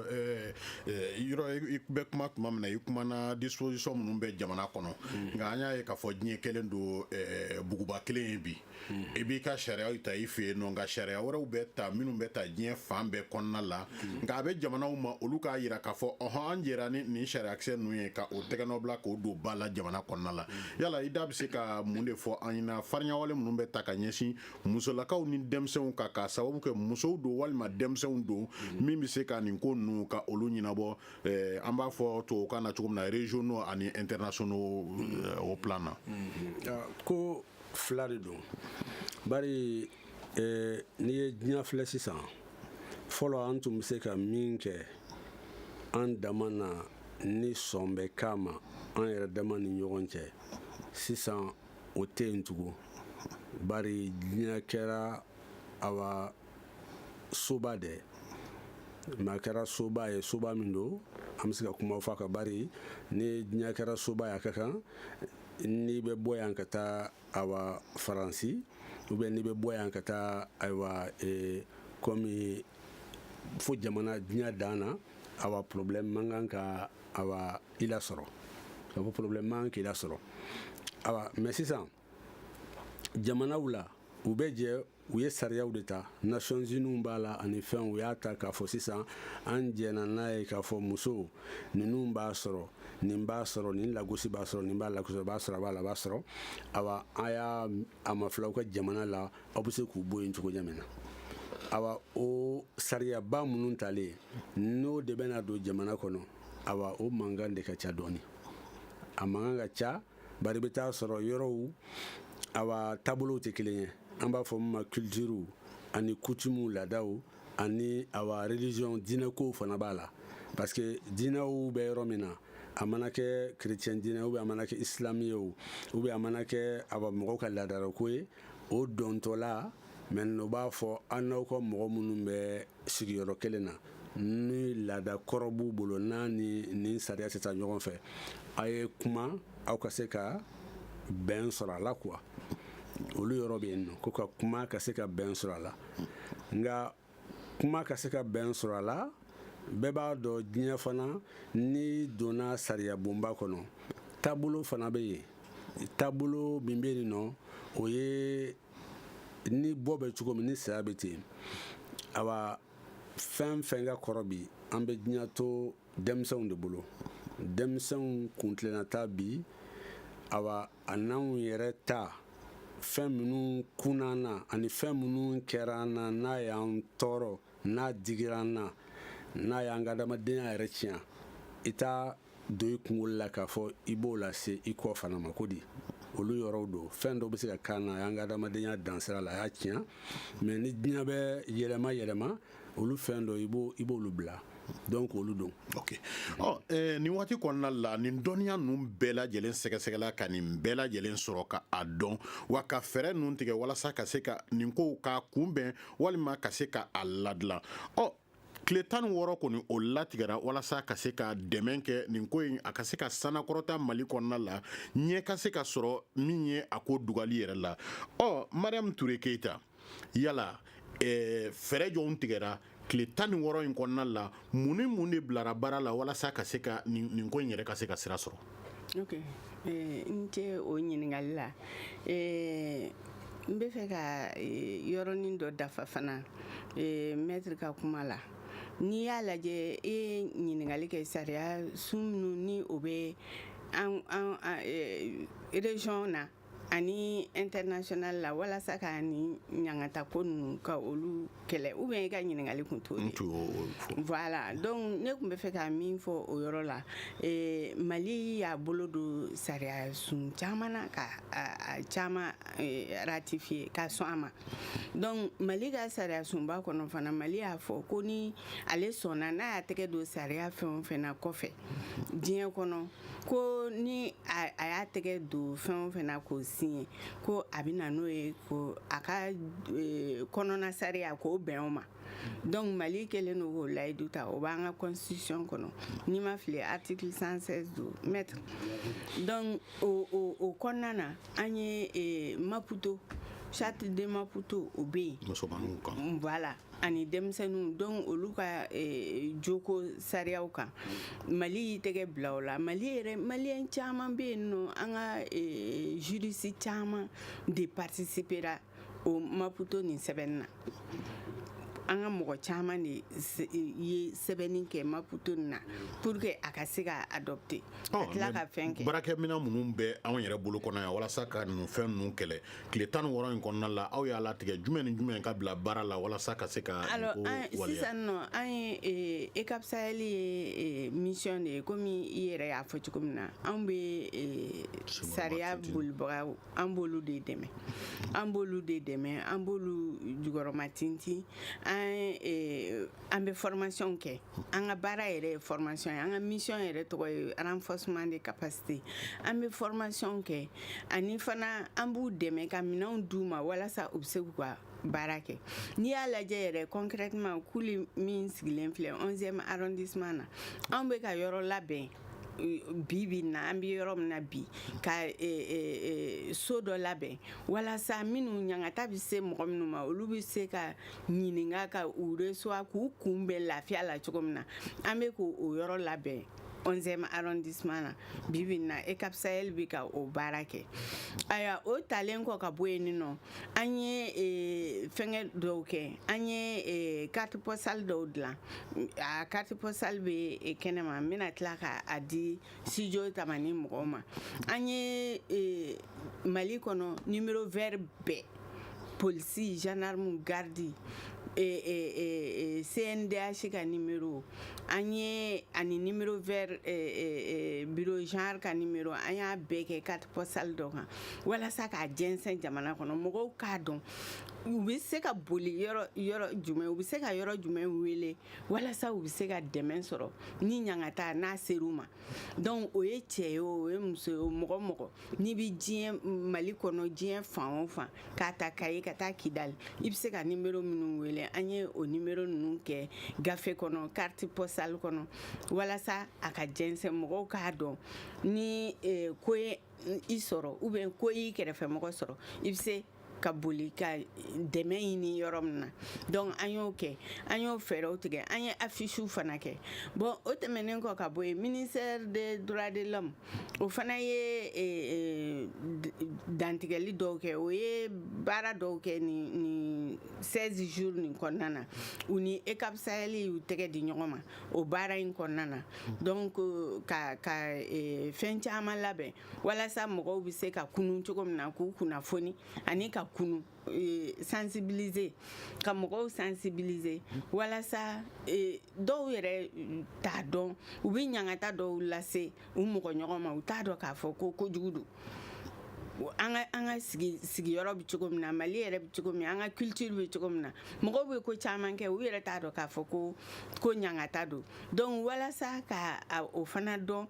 yɔrɔ i bɛ kuma tuma min na i kumana disposition minnu bɛ jamana kɔnɔ hmm. nka an y'a ye k'a fɔ diɲɛ kɛlen don eh, buguba kelen ye bi hmm. i b'i ka sariyaw ta i fɛ yen nɔ nka sariya wɛrɛw bɛ ta minnu bɛ ta diɲɛ fan bɛɛ kɔnɔna la nka a bɛ jamanaw ma olu k'a jira k'a fɔ ɔɔn an jɛra ni nin sariyakisɛ ninnu ye ka o tɛgɛnɔ bila k'o don ba la jamana kɔnɔna la yala i da bɛ se ka mun de fɔ an ɲɛna farinyawale minnu bɛ ta ka ɲɛsin musolakaw ni denmisɛnw kan k'a sababu kɛ musow don walima denmisɛnw don min bɛ se ka nin ko ninnu ka olu ɲɛnabɔ eh, an b'a fɔ tubabukan na cogo min na régionaux ani internationaux eh, au plan na. Mm-hmm. Ah, ko fila de don bari ee n'i ye diɲɛ filɛ sisan fɔlɔ an tun bɛ se ka min kɛ an dama na ni sɔn bɛ k'a ma an yɛrɛ dama ni ɲɔgɔn cɛ sisan o tɛ yen tugun bari diɲɛ kɛra awa soba de mais a kɛra soba ye soba min don an bɛ se ka kuma fɔ a ka bari ni diɲɛ kɛra soba ye a ka kan n'i bɛ bɔ yan ka taa awa faransi ou bien n'i bɛ bɔ yan ka taa ayiwa e, komi fo jamana diɲɛ dan na awa problème man kan ka awa i lasɔrɔ ka fɔ problème man kan k'i lasɔrɔ awa mais sisan jamanaw la u bɛ jɛ u ye sariyaw de ta nations unies b'a la ani fɛn u y'a ta k'a fɔ sisan an jɛna n'a ye k'a fɔ muso ninnu b'a sɔrɔ nin b'a sɔrɔ nin lagosi b'a sɔrɔ nin b'a lagosi b'a sɔrɔ a b'a la b'a sɔrɔ awa a y'a a mafilɛ aw ka jamana la aw bɛ se k'u bɔ yen cogo ɲɛ min na awa o sariyaba minnu talen n'o de bɛna don jamana kɔnɔ awa o mankan de ka ca dɔɔni a mankan ka ca bari bɛ taa sɔrɔ yɔrɔw awa taabolow tɛ kelen ye an b'a fɔ min ma culture ani coutumew laadaw ani awa religion diinɛkow fana b'a la parce que diinɛw bɛ yɔrɔ min na a mana kɛ chrétien diinɛ ou bien a mana kɛ islam ye o ou bien a mana kɛ awa mɔgɔw ka laadalako ye o dɔntɔla maintenant o b'a fɔ an n'aw ka mɔgɔ minnu bɛ sigiyɔrɔ kelen na ni laada kɔrɔ b'u bolo n'a ni nin sariya tɛ taa ɲɔgɔn fɛ a ye kuma aw ka se ka bɛn sɔrɔ a la quoi olu yɔrɔ bɛ yen nɔ ko ka kuma ka se ka bɛn sɔrɔ a la nka kuma ka se ka bɛn sɔrɔ a la bɛɛ b'a dɔn diɲɛ fana n'i donna sariya bonba kɔnɔ taabolo fana bɛ yen taabolo min bɛ yen nɔ o ye ni bɔ bɛ cogo min ni saya bɛ ten awa fɛn fɛn ka kɔrɔ bi an bɛ diɲɛ to denmisɛnw de bolo denmisɛnw kuntilenna ta bi awa a n'anw yɛrɛ ta fɛn minnu kunna an na ani fɛn minnu kɛra an na n'a y'an tɔɔrɔ n'a digira an na n'a y'an ka adamadenya yɛrɛ tiɲɛ i t'a don i kungolo la k'a fɔ i b'o lase i kɔ fana ma ko di olu yɔrɔw don fɛn dɔw bɛ se ka k'an na a y'an ka adamadenya dansira la a y'a tiɲɛ mais ni diɲɛ bɛ yɛlɛma yɛlɛma olu fɛn dɔ i b'olu bila donc olu don ok ɔ eh, nin waati kɔnɔna la nin dɔnniya ninnu bɛɛ lajɛlen sɛgɛsɛgɛla ka nin bɛɛ lajɛlen sɔrɔ ka a dɔn wa ka fɛɛrɛ ninnu tigɛ walasa ka se ka nin kow k'a kunbɛn walima ka se ka a ladilan ɔ tile tan ni wɔɔrɔ kɔni o latigɛra walasa ka se ka dɛmɛ kɛ nin ko in a ka se ka sanakɔrɔta mali kɔnɔna la ɲɛ ka se ka sɔrɔ min ye a ko dugali yɛrɛ la ɔ mariam ture keyita yala eh, fɛɛrɛ jɔnw tigɛra tile tan ni wɔɔrɔ in kɔnɔna la mun ni mun de bilara baara la walasa ka se ka nin ko in yɛrɛ ka se ka sira sɔrɔ ok i ni ce o ɲininkali la eh, n bɛ fɛ ka eh, yɔrɔnin dɔ dafa fana maître ka kuma la n'i y'a lajɛ e ye ɲininkali kɛ sariya sun minnu ni o bɛ an région na ani international la walasa ka ni ɲangata ko ninnu ka olu kɛlɛ ou bien i ka ɲininkali kun t'o de voilà donc ne tun bɛ fɛ ka min fɔ o yɔrɔ la eh, mali y'a bolo don sariya sun caman na ka a caman eh, ratifier ka sɔn a ma donc mali ka sariya sunba kɔnɔ fana mali y'a fɔ ko ni ale sɔnna n'a y'a tɛgɛ don sariya fɛn o fɛn na kɔfɛ diɲɛ kɔnɔ ko ni a y'a tɛgɛ don fɛn o fɛn na k'o signé ko a bɛ na n'o ye ko a ka e, kɔnɔna sariya k'o bɛn o ma donc mali kɛlen don k'o layidu ta o b'an ka constitution kɔnɔ ni n ma fili article 116 don maître donc o kɔnɔna na an ye e, maputo charte de maputo o bɛ yen musomaninw kan voilà ani denmisɛnninw donc olu ka eh, joko sariyaw kan mali y'i tɛgɛ bila o la mali yɛrɛ maliyɛn caman bɛ yen nɔ an ka eh, juriste caman de participera o maputo nin sɛbɛnni na an ka mɔgɔ caman de ye sɛbɛnni kɛ maputo nin na pour que a ka se ka adopter ka tila ka fɛn kɛ baarakɛminɛn minnu bɛ anw yɛrɛ bolo kɔnɔ yan walasa ka ninnu fɛn ninnu kɛlɛ tile tan ni wɔɔrɔ in kɔnɔna la aw y'a latigɛ jumɛn ni jumɛn ka bila baara la walasa ka se ka alors an sisan nɔ an ye eh, EUCAP Sahel ye eh, mission de ye komi i yɛrɛ y'a fɔ cogo min na anw bɛ eh, sariya bolibagaw an b'olu de dɛmɛ an b'olu de dɛmɛ an b'olu jukɔrɔma tintin an an bɛ formation kɛ an ka baara yɛrɛ ye formation ye an ka mission yɛrɛ tɔgɔ ye renforcement de capacité an bɛ formation kɛ ani fana an b'u dɛmɛ ka minɛnw d'u ma walasa u bɛ se k'u ka baara kɛ n'i y'a lajɛ yɛrɛ concrètement kuli min sigilen filɛ 11e arrondissement na anw bɛ ka yɔrɔ labɛn bi bi in na an bɛ yɔrɔ min na bi ka e, e, e, so dɔ labɛn walasa minnu ɲangata bɛ se mɔgɔ minnu ma olu bɛ se ka ɲininka ka u recevoir k'u kunbɛn lafiya la cogo min na an bɛ k'o yɔrɔ labɛn 11e arrondissement na bibi in na EUCAP Sahel bɛ ka o baara kɛ ayiwa o talen kɔ ka bɔ yen nɔ an ye e, fɛngɛ dɔw kɛ an ye e, carte postale dɔw dilan a carte postale bɛ e, kɛnɛma n bɛna tila ka a di studio tamani mɔgɔw ma an ye e, mali kɔnɔ numéro vert bɛɛ polisi gendarme gardi e, e, cndh ka numéro an ye ani numéro vert bureau genre ka numéro an y'a bɛɛ kɛ carte postale dɔ kan walasa k'a jɛnsɛn jamana kɔnɔ mɔgɔw k'a dɔn u bɛ se ka boli yɔrɔ jumɛn u bɛ se ka yɔrɔ jumɛn wele walasa u bɛ se ka dɛmɛ sɔrɔ ni ɲangata n'a ser'u ma donc o ye cɛ ye o ye muso ye o mɔgɔ mɔgɔ n'i bɛ diɲɛ mali kɔnɔ diɲɛ fan o fan k'a ta kayi ka taa kidali i bɛ se ka nimero minnu wele an ye o nimero ninnu kɛ gafe kɔnɔ carte postale kɔnɔ walasa a ka jɛnsɛn mɔgɔw k'a dɔn ni eh, ko ye i sɔrɔ ou bien ko y'i kɛrɛfɛmɔgɔ sɔrɔ i bɛ se ka boli ka dɛmɛ ɲini yɔrɔ min na donc an y'o kɛ an y'o fɛɛrɛw tigɛ an ye afisiw fana kɛ bon o tɛmɛnen kɔ ka bɔ yen ministère des droits de l'homme o fana ye e, e, dantigɛli dɔw kɛ o ye baara dɔw kɛ nin nin 16 jours nin kɔnɔna na u ni EUCAP Sahel y'u tɛgɛ di ɲɔgɔn ma o baara in kɔnɔna na donc ka ka e, fɛn caman labɛn walasa mɔgɔw bɛ se ka kunun cogo min na k'u kunnafoni ani ka kunu e, sensibiliser ka mɔgɔw sensibiliser walasa e, dɔw yɛrɛ t'a dɔn u bɛ ɲangata dɔw lase u mɔgɔ ɲɔgɔn ma u t'a dɔn k'a fɔ ko kojugu don an ka an ka sigi sigiyɔrɔ bɛ cogo min na mali yɛrɛ bɛ cogo min an ka culture bɛ cogo min na mɔgɔw bɛ ko caman kɛ u yɛrɛ t'a dɔn k'a fɔ ko ko ɲangata don donc walasa ka o fana dɔn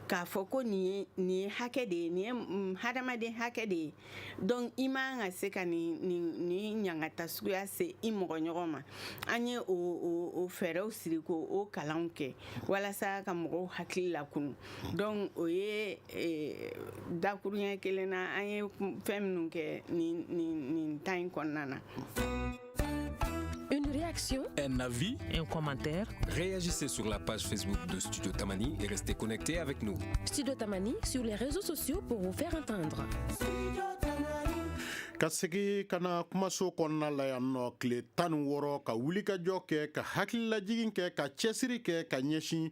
k'a fɔ ko nin ye nin ye hakɛ de ye nin ye mm, hadamaden hakɛ de ye donc i man ka se ka nin nin nin ɲangata suguya se i mɔgɔ ɲɔgɔn ma an ye o o o fɛɛrɛw siri k'o kalanw kɛ walasa ka mɔgɔw hakili lakunun donc o ye eh, dakuruɲɛ kelen na an ye fɛn minnu kɛ nin nin nin temps in kɔnɔna na. Une réaction Un avis Un commentaire Réagissez sur la page Facebook de Studio Tamani et restez connectés avec nous. Studio Tamani sur les réseaux sociaux pour vous faire entendre. ka segi ka na kumaso kɔnɔna la yan nɔ tile tan ni wɔɔrɔ ka wulikajɔ kɛ ka hakililajigin kɛ ka cɛsiri kɛ ka ɲɛsin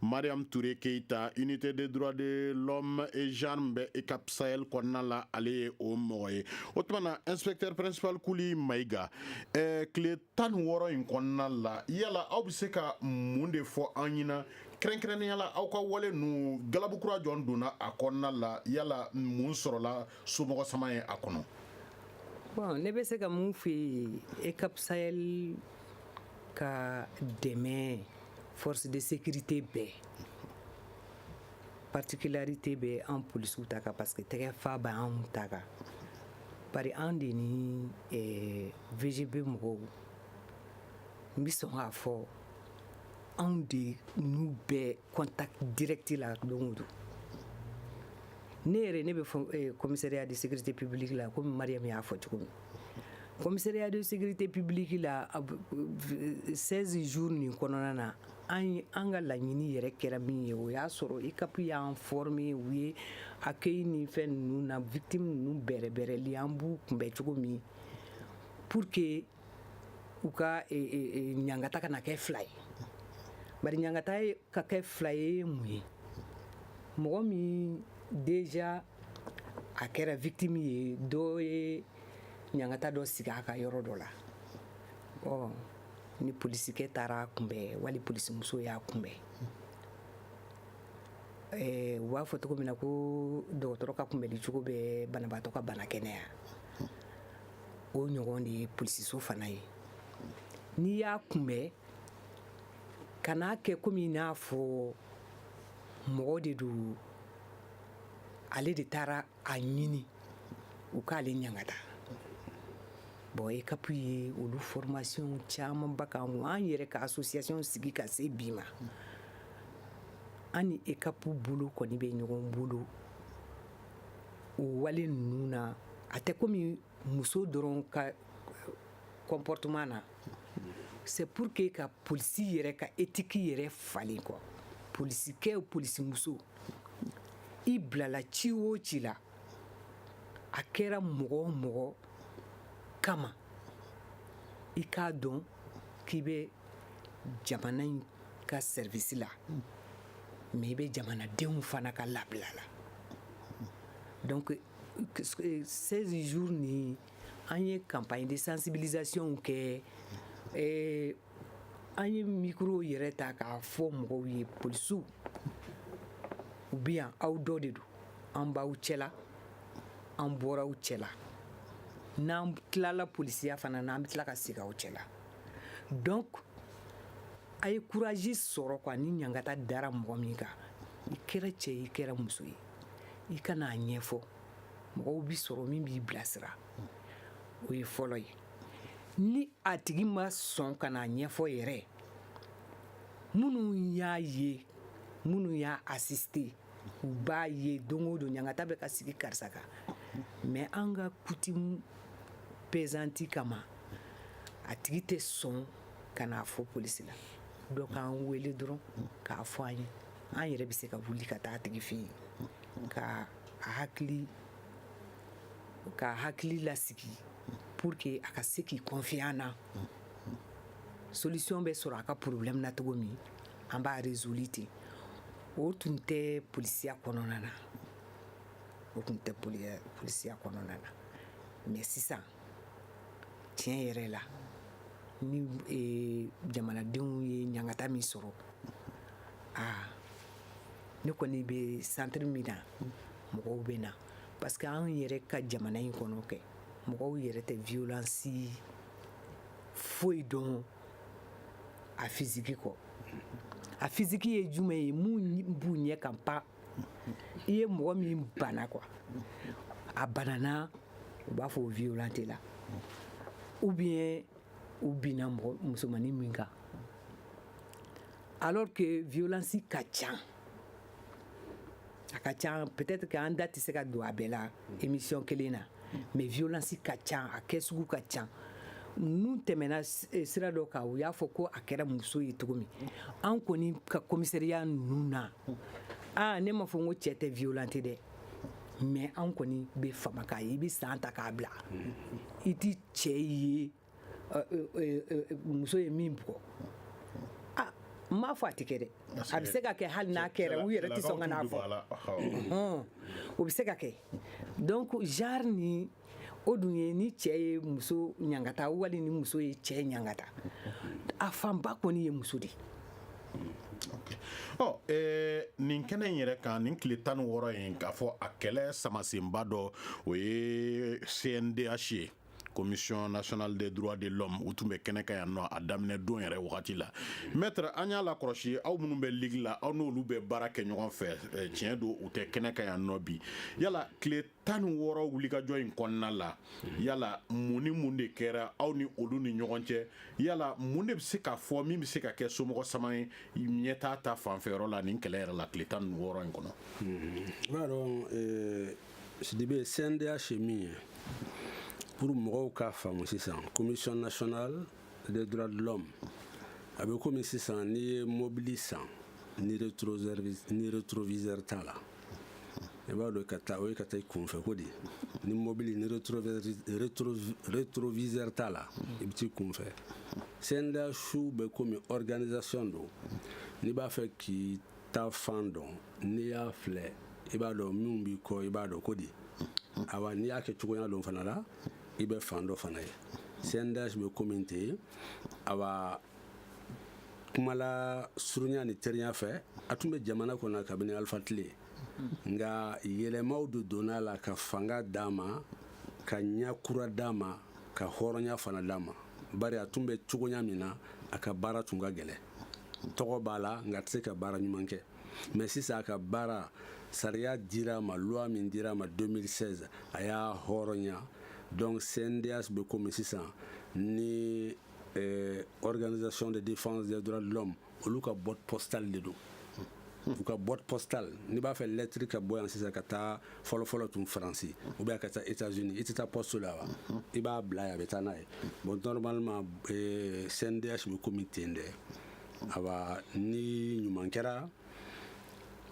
mariam ture keyita unité des droits de l'homme et genre min bɛ EUCAP Sahel kɔnɔna la ale ye o mɔgɔ ye o tuma na inspecteur principal kuli mayiga eh, tile tan ni wɔɔrɔ in kɔnɔna la yala aw bɛ se ka mun de fɔ an ɲɛna kɛrɛnkɛrɛnnenya la aw ka wale ninnu galabu kura jɔn donna a kɔnɔna la yala mun sɔrɔla somɔgɔ sama ye a kɔnɔ bon ne bɛ se ka min f'i ye EUCAP Sahel ka dɛmɛ force de sécurité bɛɛ particularité bɛ an polisiw ta kan parce que tɛgɛ fa bɛ anw ta kan bari an de ni eh, VGB mɔgɔw n bɛ sɔn k'a fɔ anw de n'u bɛ contact direct la don o don ne yɛrɛ ne bɛ fɔ eh, commissariat de sécurité publique la komi Mariam y'a fɔ cogo min Commissariat de sécurité publique la 16 jours nin kɔnɔna na an an ka laɲini yɛrɛ kɛra min ye o y'a sɔrɔ EUCAP y'an former u ye accueil ni fɛn ninnu na victime ninnu bɛrɛbɛrɛli an b'u kunbɛn cogo min pour que u ka e, e, e, ɲangata kana kɛ fila ye bari ɲangata ka kɛ fila ye mun ye mɔgɔ min déjà a kɛra victime ye dɔ ye ɲangata dɔ sigi a kan yɔrɔ dɔ la ɔ ni polisikɛ taara a kunbɛn wali polisimuso y'a kunbɛn eh, u b'a fɔ cogo min na ko dɔgɔtɔrɔ ka kunbɛnni cogo bɛ banabaatɔ ka bana kɛnɛya o ɲɔgɔn de ye polisiso fana ye n'i y'a kunbɛn kan'a kɛ komi n'a fɔ mɔgɔ de don ale de taara a ɲini u k'ale ɲangata bon EUCAP ye olu formation camanba k'an an yɛrɛ ka association sigi ka se bi ma an ni EUCAP bolo kɔni bɛ ɲɔgɔn bolo o wale ninnu na a tɛ komi muso dɔrɔn ka comportement na c'est pour que ka polisi yɛrɛ ka éthique yɛrɛ falen ko polisikɛ polisimuso i bilala ci o ci la a kɛra mɔgɔ o mɔgɔ kama i k'a dɔn k'i bɛ jamana in ka service la mais i bɛ jamanadenw fana ka labila la donc 16 jours nin an ye campagne de sensibilisation kɛ eh, an ye micro yɛrɛ ta k'a fɔ mɔgɔw ye polisiw u bɛ yan aw dɔ de don an b'aw cɛla an bɔra aw cɛla n'an tilala polisiya fana na an bɛ tila ka segin aw cɛla donc a ye courage sɔrɔ quoi ni ɲangata dara mɔgɔ min kan i kɛra cɛ i kɛra muso ye i ka n'a ɲɛfɔ mɔgɔw bɛ sɔrɔ min b'i bilasira o ye fɔlɔ ye ni a tigi ma sɔn ka n'a ɲɛfɔ yɛrɛ minnu y'a ye minnu y'a assister u b'a ye don o don ɲangata bɛ ka sigi karisa kan mais an ka coutume pesante kama a tigi tɛ sɔn ka n'a fɔ polisi la dɔ k'an wele dɔrɔn k'a fɔ an ye an yɛrɛ bɛ se ka wuli ka taa a tigi fɛ yen ka a hakili k'a hakili lasigi pour que a ka se k'i confier an na solution bɛ sɔrɔ a ka problème na cogo min an b'a résoudre ten o tun tɛ polisiya kɔnɔna na o tun tɛ polisiya kɔnɔna na mais sisan tiɲɛ yɛrɛ la ni e, jamanadenw ye ɲangata min sɔrɔ aa ne kɔni bɛ centre min na mɔgɔw bɛ na parce que an yɛrɛ ka jamana in kɔnɔ kɛ mɔgɔw yɛrɛ tɛ violence foyi dɔn a physique kɔ a physique ye jumɛn ye mun b'u ɲɛ kan pa i ye mɔgɔ min bana quoi a banana u b'a fɔ o violenté la ou bien u binna musomanin min kan alors que violence ka ca a ka ca peut-être que an da tɛ se ka don a bɛɛ la émission kelen na mais violence ka ca a kɛ sugu ka ca n'u tɛmɛna eh, sira dɔ kan u y'a fɔ ko a kɛra muso ye cogo min an kɔni ka commissariat ninnu na aa ne ma fɔ n ko cɛ tɛ violenté dɛ mais an kɔni bɛ fama k'a ye i bɛ san ta k'a bila i tɛ cɛ ye muso ye min bugɔ n m'a fɔ a tɛ kɛ dɛ a bɛ se ka kɛ hali n'a kɛra u yɛrɛ tɛ sɔn ka n'a fɔ o bɛ se ka kɛ donc genre ni o dun ye ni cɛ ye muso ɲangata wali ni muso ye cɛ ɲangata a fanba kɔni ye muso de ye ɔ eh, nin kɛnɛ in yɛrɛ kan nin tile tan ni wɔɔrɔ in k'a fɔ a kɛlɛ samasenba dɔ o ye cndh ye commission nationale des droits de l'homme u tun bɛ kɛnɛ kan yan nɔ a daminɛ don yɛrɛ wagati la maître an y'a lakɔlɔsi aw minnu bɛ ligue la aw n'olu bɛ baara kɛ ɲɔgɔn fɛ eh, tiɲɛ don u tɛ kɛnɛ kan yan nɔ bi yala tile tan ni wɔɔrɔ wulikajɔ in kɔnɔna la yala mun ni mun de kɛra aw ni olu ni ɲɔgɔn cɛ yala mun de bɛ se ka fɔ min bɛ se ka kɛ somɔgɔ sama ye ɲɛtaa ta fanfɛyɔrɔ la nin kɛlɛ yɛrɛ la tile tan ni wɔɔrɔ in kɔnɔ. sidibe cndh ye min ye pour mɔgɔw k'a faamu sisan commission nationale des droits de l'homme a bɛ komi sisan n'i ye mobili san ni rétroviseur t'a la i b'a dɔn ka taa o ye ka taa i kunfɛ ko de ni mobili ni rétroviseur t'a la i bɛ t'i kunfɛ cndh bɛ komi organisation don n'i b'a fɛ k'i ta fan dɔn n'i y'a filɛ i b'a dɔn minnu b'i kɔ i b'a dɔn ko di awa n'i y'a kɛ cogoya dɔ fana la i bɛ fan dɔ fana ye cndh bɛ komi ten awa kuma lasurunya ni teliya fɛ a tun bɛ jamana kɔnɔ kabini alifa tile nka yɛlɛmaw de donna a la ka fanga d'a ma ka ɲɛ kura d'a ma ka hɔrɔnya fana d'a ma bari a tun bɛ cogoya min na a ka baara tun ka gɛlɛn tɔgɔ b'a la nka a tɛ se ka baara ɲuman kɛ mais sisan a ka baara sariya dira a ma loi min dira a ma 2016 a y'a hɔrɔnya donc cndh bɛ komi sisan ni eh, organisation de défense des droits de l'homme olu ka boîte postale de don u ka boîte postale n'i b'a fɛ lɛtiri ka bɔ yan sisan ka taa fɔlɔfɔlɔ tun faransi ou bien ka taa états unis i tɛ taa poste la wa i b'a bila yen a bɛ taa n'a ye bon normalement cndh eh, bɛ komi ten dɛ awa ni ɲuman kɛra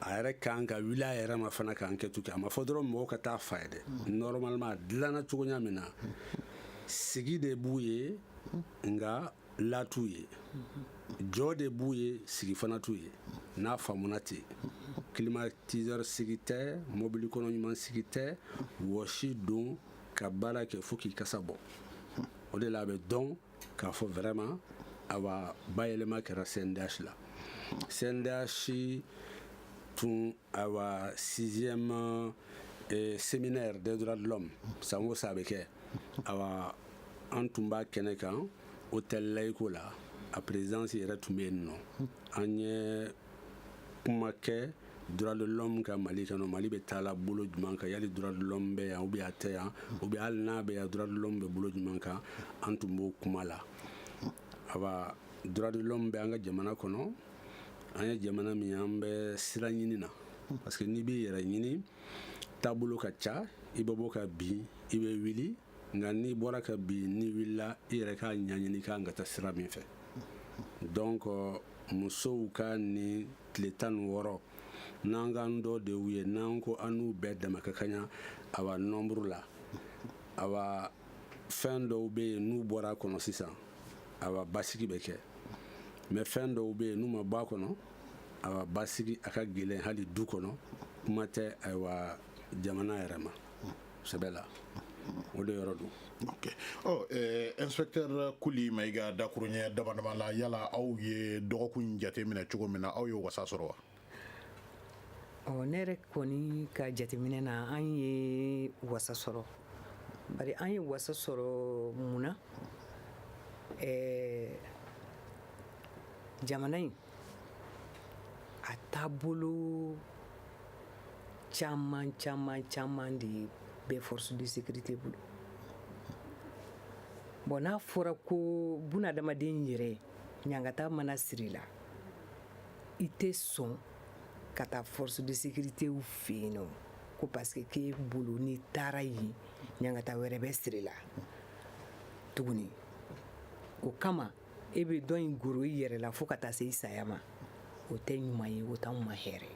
a yɛrɛ kan ka wuli a yɛrɛ ma fana ka enquête kɛ a ma fɔ dɔrɔn mɔgɔw ka taa f'a ye dɛ normalement a dilanna cogoya min na sigi de b'u ye nka la t'u ye jɔ de b'u ye sigi fana t'u ye n'a faamuna ten climatiseur sigi tɛ mobili kɔnɔ ɲuman sigi tɛ wɔsi don ka baara kɛ fo k'i kasa bɔ o de la a bɛ dɔn k'a fɔ vraiment awa bayɛlɛma kɛra CNDH la CNDH tun ayiwa sixième eh, séminaire des droits de l'homme san o san a bɛ kɛ ayiwa an tun b'a kɛnɛ kan hôtel laïco la a présidence yɛrɛ tun bɛ yen nɔ an ye kuma kɛ droit de l'homme kan mali kɔnɔ mali bɛ taa la bolo jumɛn kan yali droit de l'homme bɛ yan ou bien a tɛ yan ou bien hali n'a bɛ yan droit de l'homme bɛ bolo jumɛn kan an tun b'o kuma la ayiwa droit de l'homme bɛ an ka jamana kɔnɔ an ye jamana min ye an bɛ sira ɲini na parce que n'i b'i yɛrɛ ɲini taabolo ka ca i bɛ bɔ ka bin i bɛ wuli nka n'i bɔra ka bin n'i wulila i yɛrɛ k'a ɲɛɲini k'an ka taa sira min fɛ donc musow ka nin tile tan ni wɔɔrɔ n'an k'an dɔ de y'u ye n'an ko an n'u bɛɛ dama ka kaɲa awa nɔnburu la awa fɛn dɔw bɛ yen n'u bɔra a kɔnɔ sisan awa basigi bɛ kɛ mais fɛn dɔw bɛ yen n'u ma bɔ a kɔnɔ awa basigi a ka gɛlɛn hali du kɔnɔ kuma tɛ ayiwa jamana yɛrɛ ma sɛbɛ la o de yɔrɔ don oh, eh, inspecteur kuli mayiga dakuruɲɛ dama dama la yala aw ye dɔgɔkun jateminɛ cogo min na aw y'o wasa sɔrɔ wa Ɔ ne yɛrɛ kɔni ka jateminɛ na an ye wasa sɔrɔ bari an ye wasa sɔrɔ mun na ɛɛ jamana in a taabolo caman caman caman de bɛ force de sécurité bolo bon n'a fɔra ko bunadamaden yɛrɛ ɲangata mana siri i la i tɛ sɔn ka taa force de sécuritéw fɛ yen nɔ ko parce que k'e bolo n'i taara yen ɲangata wɛrɛ bɛ siri i la tuguni o kama e bɛ dɔ in goro i yɛrɛ la fo ka taa se i saya ma o tɛ ɲuman ye o t'anw ma hɛrɛ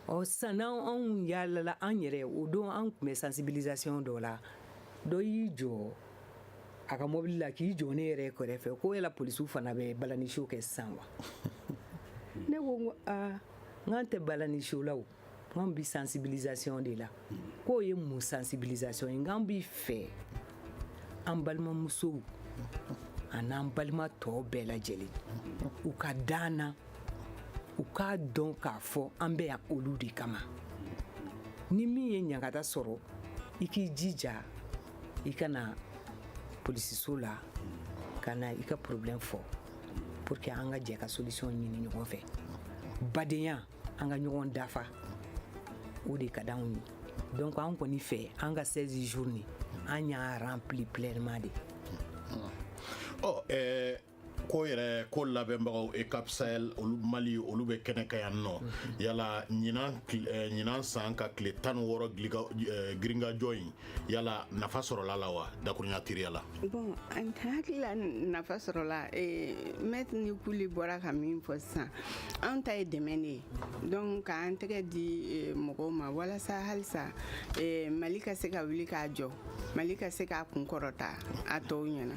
ɔ sisan anw yaalala an yɛrɛ o don an tun bɛ sensibilisation dɔ la dɔ y'i jɔ a ka mɔbili la k'i jɔ ne yɛrɛ kɛrɛfɛ ko yala polisiw fana bɛ balani show kɛ sisan wa ne ko n ko aa n k'an tɛ balani show la o k'an bi sensibilisation de la k'o ye mun sensibilisation ye n k'an b'a fɛ an balimamusow an'an balima tɔw bɛɛ lajɛlen u ka da an na u k'a dɔn k'a fɔ an bɛ yan olu de kama ni min ye ɲangata sɔrɔ i k'i jija i ka na polisiso la ka na i ka problème fɔ pour que an ka jɛ ka solution ɲini ɲɔgɔn fɛ badenya an ka ɲɔgɔn dafa o de ka d'anw ye donc an kɔni fɛ an ka 16 jours ni an y'a rempli pleinement de ɔ oh, ɛɛ eh, ko yɛrɛ ko labɛnbagaw EUCAP Sahel olu mali olu bɛ kɛnɛ kan yan nɔ mhm. yala ɲinan eh, san ka tile tan ni wɔɔrɔ eh, girinkajɔ in yala nafa sɔrɔla a la wa dakurunya teliya la bon an hakili la nafa sɔrɔla eh, maître ni kuli bɔra ka min fɔ sisan an ta ye dɛmɛ de ye donc k'an tɛgɛ di mɔgɔw ma walasa halisa mali ka se ka wuli k'a jɔ mali ka se k'a kun kɔrɔta a tɔw ɲɛna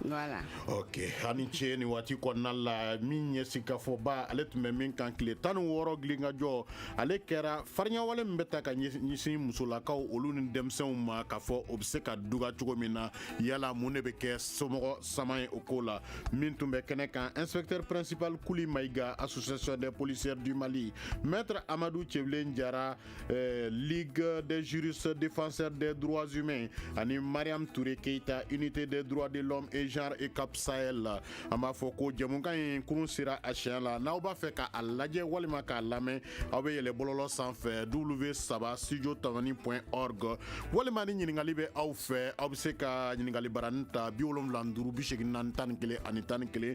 voilà ok aw ni ce nin waati kɔnɔna la min ye sigikafɔba ale tun bɛ min kan tile tan ni wɔɔrɔ gilinkajɔ ale kɛra farinyawale min bɛ ta ka ɲɛsin musolakaw olu ni denmisɛnw ma k'a fɔ o bɛ se ka dɔgɔya cogo min na yala mun de bɛ kɛ somɔgɔ sama ye o ko la min tun bɛ kɛnɛ kan inspecteur principal kuli mayiga association des policières du mali maître amadu cɛbilen jara eh, Ligue des juristes défenseurs des droits humains, Ani Mariam Touré Keita, Unité des droits de l'homme et genre EUCAP Sahel. An b'a fɔ ko jɛmukan in kurun sera a siɲɛ la n'aw b'a fɛ k'a lajɛ walima k'a lamɛn aw bɛ yɛlɛ bɔlɔlɔ sanfɛ w saba studio tamani point org walima ni ɲininkali bɛ aw fɛ aw bɛ se ka ɲininkali baranin ta bi wolonwula ni duuru bi seegin naani tan ni kelen ani tan ni kelen